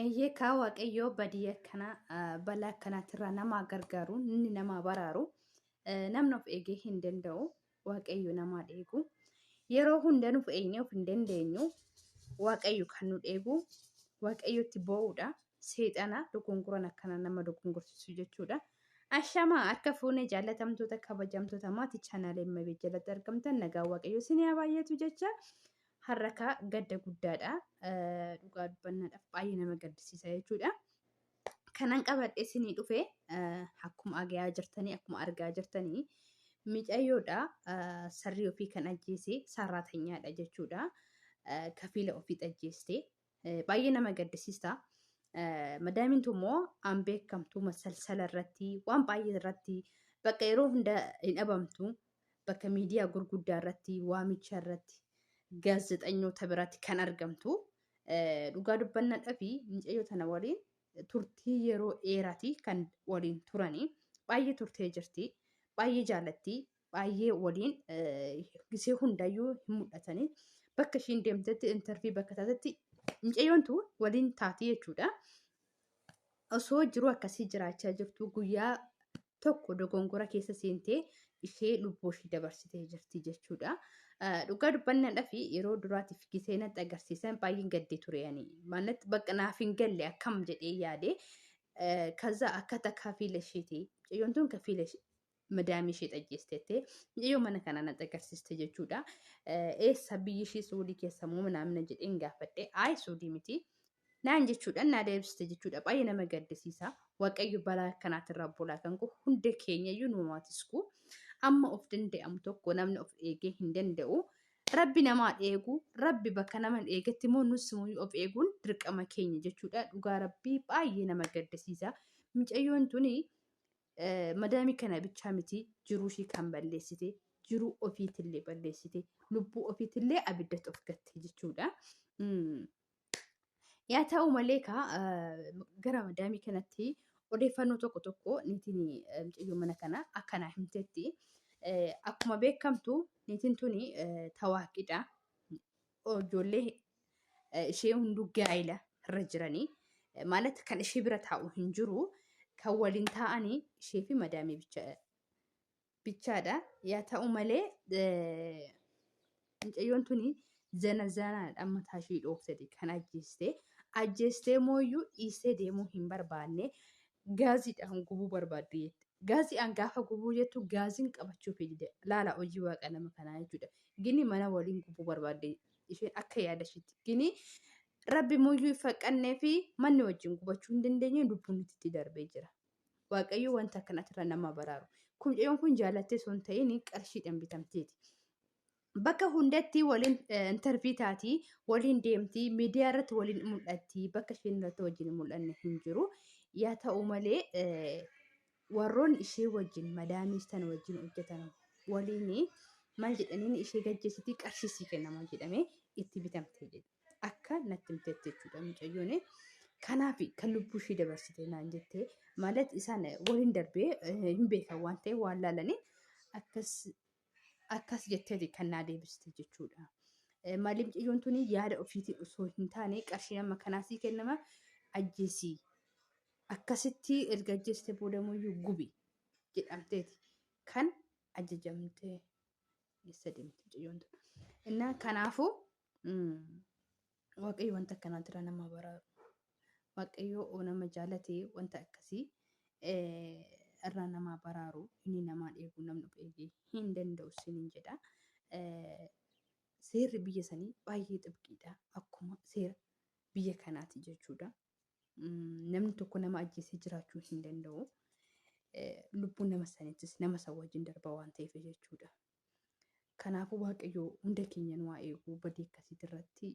Eeyyee kaa waaqayyoo badii akkanaa balaa akkanaatirraa namaa gargaaru inni namaa baraaru namni of eegee hin danda'u waaqayyo namaa dheegu yeroo hunda nuuf eegnee of hin dandeenyu waaqayyo kan nu dheegu waaqayyotti boo'uudha seexana dogongoran akkana nama dogongorsiisu jechuudha. Ashamaa harka fuunee jaallatamtoota kabajamtoota maatii chaanaalee Immabee jalatti argamtan nagaa waaqayyo isin haa baay'atu jecha harrakaa gadda guddaadha dhugaa dubbannaadhaaf baay'ee nama gaddisiisa jechuudha. Kanan qabadhe isinii dhufe akkuma agayaa jirtanii akkuma argaa jirtanii micayyoodha sarrii ofii kan ajjeese sarraatanyaadha jechuudha. Kafiila ofii ajjeeste Baay'ee nama gaddisiista. Madaamiin tun immoo an beekamtu masalsala irratti waan baay'ee irratti bakka yeroo hunda hin dhabamtu bakka miidiyaa gurguddaa irratti waamicha irratti gaazexanyoota biratti kan argamtu dhugaa dubbannadhaa fi mucayyoo tana waliin turtii yeroo dheeraati kan waliin turanii baay'ee turtee jirti baay'ee jaalatti baay'ee waliin gisee hundayyuu hin mul'atanii bakka ishiin deemtetti intarvii bakka taatetti mucayyoontu waliin taati jechuudha. Osoo jiruu akkasii jiraachaa jirtu guyyaa tokko dogongora keessa seentee ishee lubbuu ishee dabarsitee jirti jechuudha. Dhugaa dubbannadhaa fi yeroo duraatiif gisee natti agarsiisan baay'een gaddee ture ani. Maalatti bakka naaf hin galle akkam jedhee yaade. Kaza akka takka fiila isheeti. Mucayyoon tun ka fiila madaamii ishee xajjeesteettee mucayyoo mana kana na xagarsiste jechuudha. Eessa biyyi ishee suudii keessa moo naamna jedheen gaafadhe. Ayi suudii miti. Naan jechuudhaan naa deebiste jechuudha. Baay'ee nama gaddisiisa. Waaqayyo balaa akkanaatirraa bulaa kan koo hunda keenyayyuu nu maatisku. Amma of danda'amu tokko namni of eegee hin danda'u. Rabbi namaa eegu, rabbi bakka nama hin eegetti immoo nus of eeguun dirqama keenya jechuudha. Dhugaa rabbii baay'ee nama gaddisiisa. Mucayyoon tuni madaamii kana bichaa miti jiruu ishii kan balleessite jiruu ofiitillee balleessite lubbuu ofiitillee abiddatti of gatte jechuudha. Yaa ta'u malee kaa gara madaamii kanatti odeeffannoo tokko tokko niitiin mucayyoo mana kana akkanaa himtetti. Akkuma beekamtu niitiin tuni tawaaqidha. ijoollee eh, ishee hunduu gaa'ila irra jiranii eh, maalat kan ishee bira taa'u hin jiru kan waliin taa'anii ishee fi madaamii bicha bichaadha. Yaa ta'u malee eh, mucayyoon tuni zana zanaadhaan mataa ishee dhooftee kan ajjeeste. Ajjeestee mooyyuu dhiistee deemuu hin barbaanne. gaaziidhaan gubuu barbaadde jette. Gaaziidhaan gaafa gubuu jettu gaaziin qabachuuf dide. Laala hojii waaqa nama kanaa jechuudha. Gini mana waliin gubuu barbaadde isheen akka yaada ishiitti. Gini rabbi muyyuu hin faqqannee fi manni wajjin gubachuu hin dandeenye lubbuun itti darbee jira. Waaqayyo wanta akkanaatirra nama baraaru. Kun mucayyoon kun jaalattee osoo hin ta'in qarshiidhaan bitamteeti. bakka hundatti waliin intervii taati waliin deemti miidiyaa irratti waliin mul'atti bakka isheen irratti wajjin hin mul'anne hin jiru yaa ta'u malee warroonni ishee wajjin madaamiis tan wajjin hojjetan waliin maal jedhaniin ishee gaggeessitii qarshiisii kennama jedhamee itti bitamte jedhe akka natti himteetti jechuudha mucayyoon kanaaf kan lubbuu ishee dabarsite naan jettee maalat isaan waliin darbee hin beekan waan ta'e waan laalanii akkas Akkas jetteeti kan naa deebiste jechuudha. Maaliif mucayyoon tuni yaada ofiitiin osoo hin taane qarshiin amma kanaa sii kennama ajjeesii. Akkasitti erga ajjeeste boodamuyyuu gubi jedhamteeti kan ajajamtee eessa deemti mucayyoon tun. Innaa kanaafuu Waaqayyo wanta akkanaa jira nama baraaru. Waaqayyo nama jaalate wanta akkasii irraa namaa baraaru inni namaa dheebuu namni of eegee hin danda'u sinin jedha. Seerri biyya sanii baay'ee xibqiidha akkuma seera biyya kanaati jechuudha. Namni tokko nama ajjeesee jiraachuu hin danda'u. Lubbuun nama sanittis nama san wajjin darba waan ta'eef jechuudha. Kanaafuu Waaqayyoo hunda keenya nu haa eegu badii akkasiitii irratti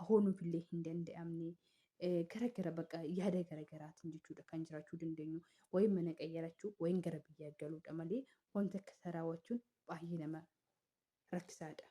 ahoo nuuf illee hin danda'amne gara gara baqa yaada gara garaatiin jechuudha kan jiraachuu dandeenyu wayin mana qayyarachuu wayin gara biyyaa galuudha malee wanta akkasa raawwachuun baay'ee nama rakkisaadha.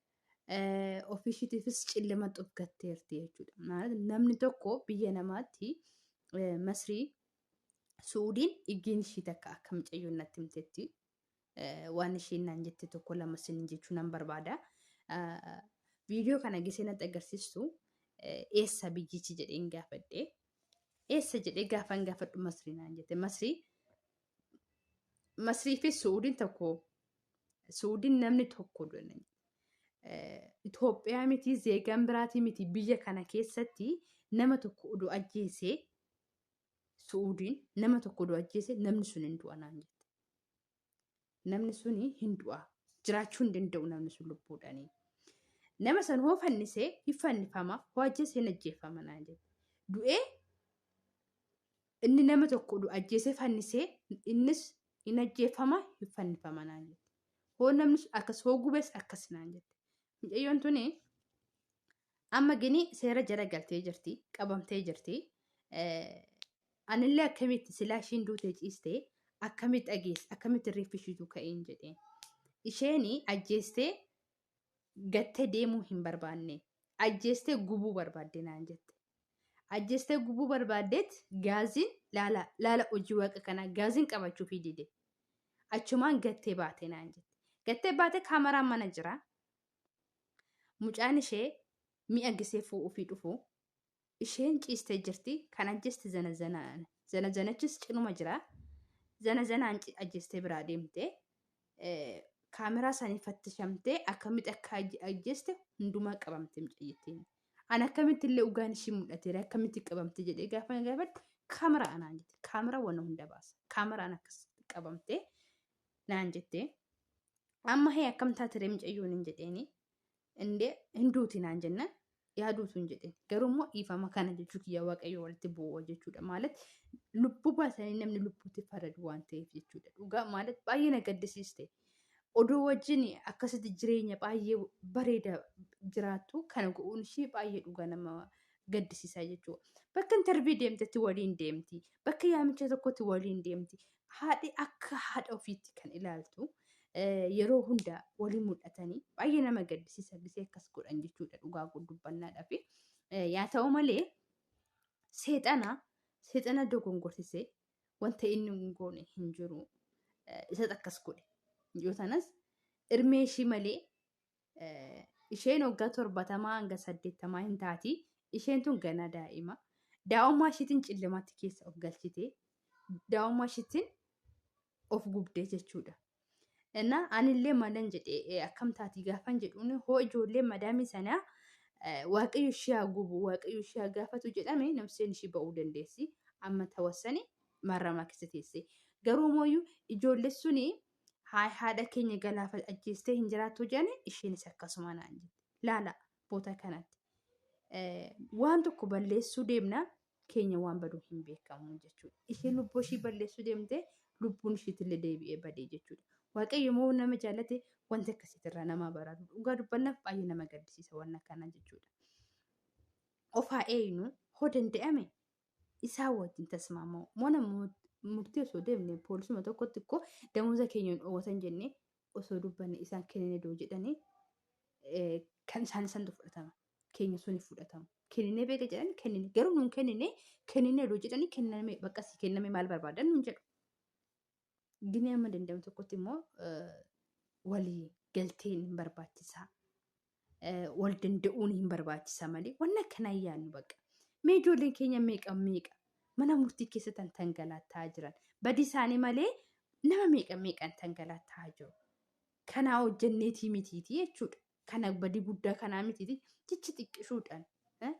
ofiishiitiifis cillima xufgatteerti jechuudha. Maal namni tokko biyya namaatti eh, Masrii Suudiin dhiggeen ishii takka akka mucayyoon natti himtetti eh, waan isheen naan jette tokko lama sinin jechuu nan barbaada. Ah, Viidiyoo kana gisee natti agarsiistu eh, eessa biyyichi jedheen gaafadhe. Eessa jedhee gaafan gaafadhu Masrii naan jette. Masrii Masrii fi Suudiin tokko Suudiin namni tokko jedhani. Eh, Itoophiyaa miti zeegaan biraatii miti biyya kana keessatti nama tokko oduu ajjeesee Suudiin nama tokko oduu ajjeesee namni sun hin du'a naan jette. Namni sun hin du'a. Jiraachuu hin danda'u namni sun lubbuudhaanii. Nama san hoo fannisee hin fannifama hoo ajjeesee hin ajjeeffama naan jette. Du'ee Inni nama tokko du ajjeesee fannisee innis hin ajjeeffama hin fannifama naan jette. Hoo namni sun akkas hoo gubes akkas naan jette. Mucayyoon tuni amma gini seera jala galtee jirti qabamtee jirti. Eh, Anillee akkamitti silaa ishiin duutee ciistee akkamitti dhageesse akkamitti reeffi ishiitu ka'een jedheen. Isheen ajjeestee gattee deemuu hin barbaanne ajjeestee gubuu barbaadde naan jette. Ajjeestee gubuu barbaaddeet gaaziin laala laala hojii waaqa kanaa gaaziin qabachuufii dide. Achumaan gattee baatee naan jette. Gattee baatee kaameraan mana jira. Mucaan ishee mi'a gisee fuudhuufii dhufu. Isheen ciistee jirti kan ajjeeste zana zanaan. Zana zanachis cinuma jira. Zana zanaan ci- ajjeestee biraa deemte. kaameraa isaanii fattishamtee akkamitti akka aj- ajjeeste hundumaa qabamte mucayyittiin. An akkamitti illee ugaan ishii mul'ateera akkamitti qabamte jedhee gaafa na gaafadhu kaameraa anaan jette kaameraa waan hunda baasa kaameraan akkasitti qabamte naan jette amma hee akkam taatere mucayyoon hin jedheeni indee hin duuti naan jennaan yaaduu utuu hin jedhin garuu immoo dhiifama kana jechuu kiyya waaqayyo walitti bu'uu jechuudha maalat lubbuu baasanii namni lubbuutti faradu waan ta'eef jechuudha dhugaa maalat baay'ee na gaddisiiste oduu wajjin akkasitti jireenya baay'ee bareeda jiraattu kana go'uun ishii baay'ee dhugaa nama gaddisiisaa jechuudha bakka intarvii deemtetti waliin deemti bakka yaamicha tokkotti waliin deemti haadhi akka haadha ofiitti kan ilaaltu yeroo hunda walii mul'atanii baay'ee nama gaddisiisa gisee akkas godhan jechuudha dhugaa dubbannaadhaa fi yaa ta'u malee seexana seexana dogongorsisee wanta inni hin goone hin jiru isas akkas godhe yoo tanas irmee ishii malee isheen waggaa torbatamaa hanga saddeettamaa hin taati. Isheen tun ganaa daa'ima. Daa'ummaa ishiitiin cillamaatti keessa of galchite. Daa'ummaa ishiitiin of gubdee jechuudha. Innaa anillee malan jedhee akkam taati gaafan jedhuun hoo ijoollee madaamii sanaa waaqayyo ishee haa gubu waaqayyo ishee haa gaafatu jedhame namseen ishee ba'uu dandeessi. Amma tawassani marramaa keessa teesse. Garuu mooyyuu ijoollee suni Haay haadha keenya galaafa ajjeestee hin jiraattu jedhani isheenis akkasuma naan jette. Laala boota kanatti. Eh, Waan tokko balleessuu deemna keenya waan badu hin beekamu jechuudha. Isheen lubbuu ishii balleessuu deemtee lubbuun ishiitillee deebi'ee badee jechuudha. Waaqayyo immoo nama jaalate wanti akkasiitirraa nama baraatu. Dhugaa dubbannaaf baay'ee nama gaddisiisa waan akkanaa jechuudha. Of haa eegnu hoo danda'ame isaa wajjin tasmaamoo mana murtii osoo deemne poolisuma tokkotti koo damuusa keenya hin dhoowwatan jennee osoo dubbanne isaan kennine doo jedhanii kan isaan isantu fudhatama keenya sun fudhatama kennine beeka jedhan kennine garuu nuun kennine kennine doo jedhanii kenname bakkasii kenname maal barbaadan nuun jedhu Gini amma danda'amu tokkotti immoo walii galteen hin barbaachisaa. Wal danda'uun hin barbaachisaa malee waan akkanaa hin yaadnu bakka. Mee ijoolleen keenya meeqa meeqa mana murtii keessa tan tangalaataa jiran badii isaanii malee nama meeqa meeqan tangalaataa jiru. Kanaa hojjenneetii mitiitii jechuudha. kana badii guddaa kanaa miti jecha xiqqishuudhaan eh,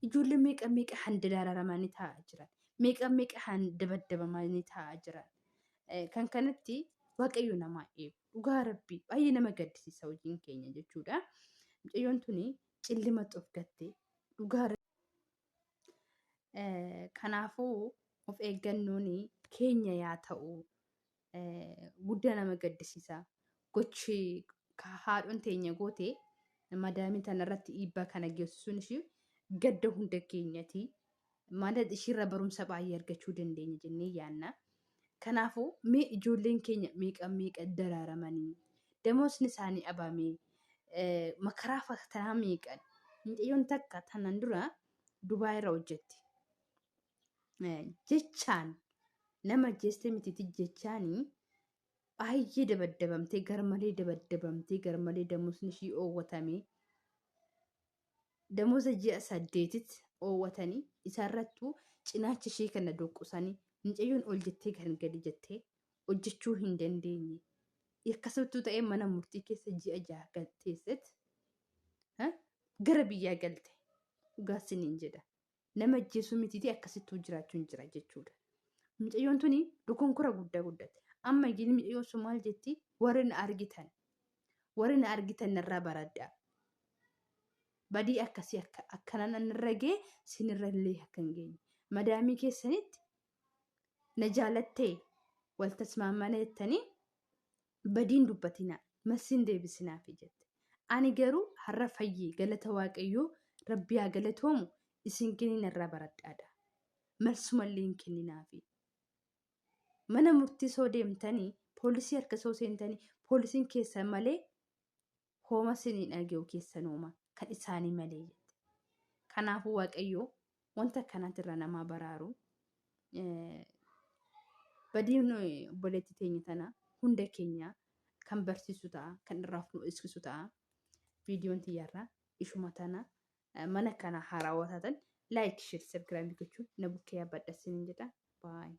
ijoollee meeqa meeqa han dararamanii taa'aa jiran meeqa meeqa han dabaddabamanii taa'aa jiran Eh, kan kanatti waaqayyo namaa eegu dhugaa rabbii baay'ee nama gaddisiisa hojiin keenya jechuudha mucayyoon tuni cillimatti of gattee dhugaa Eh, kanaafuu of eeggannoon keenya yaa ta'u guddaa nama gaddisiisa. Gochi haadhoon teenya goote madaamii tanarratti dhiibbaa kana geessisuun ishii gadda hunda keenyati. Maala ishiirra barumsa baay'ee argachuu dandeenya jennee yaanna. Kanaafuu mee ijoolleen keenya meeqa meeqa daraaramanii damoosni isaanii abamee makaraa fatanaa meeqan mucayyoon takka tanan dura Dubaay irra hojjetti. eh, jechaan nama ajjeestee mitiiti jechaanii baay'ee dabaddabamtee garmalee dabaddabamtee garmalee damusni ishii oowwatamee damusa ji'a saddeetitti oowwatanii isaarrattuu cinaacha ishee kana doqqusanii mucayyoon ol jettee kan gadi jettee hojjechuu hin dandeenye. Akkasittuu ta'ee mana murtii keessa ji'a jaha kan teessetti ha, gara biyyaa galte dhugaa siniin jedha. nama ajjeesuu mitiitii akkasittuu jiraachuun jira jechuudha. Mucayyoon tuni dukunkura guddaa guddate. Amma iyyuu mucayyoon sun maal jetti warri na argitan warri na argitan narraa baraddaa. Badii akkasii akka akkanaan an irra gee sinirra illee akka hin geenye. Madaamii keessanitti na jaalattee wal tasmaammana jettanii badiin dubbatinaa massin deebisinaafi jette ani garuu har'a fayyee galata waaqayyoo rabbi haa galatoomu isin kiniina irraa baradhaadha malsumallee hin kenninaafi mana murtii soo deemtanii poolisii harka soo seentanii poolisiin keessan malee hooma sin hin dhage'u keessanooma kan isaanii malee jette. Kanaafuu Waaqayyoo wanta akkanaatirra namaa baraaru badiin obboleetti teenya tana hunda keenya kan barsiisu ta'a kan irraa nu eegsisu ta'a. Viidiyoon tiyyarraa ishuma tana mana kana haarawaa taatan laayik sheer sabgiraamii gochuun na bukkee yaabadha sinin jedha baay'ee.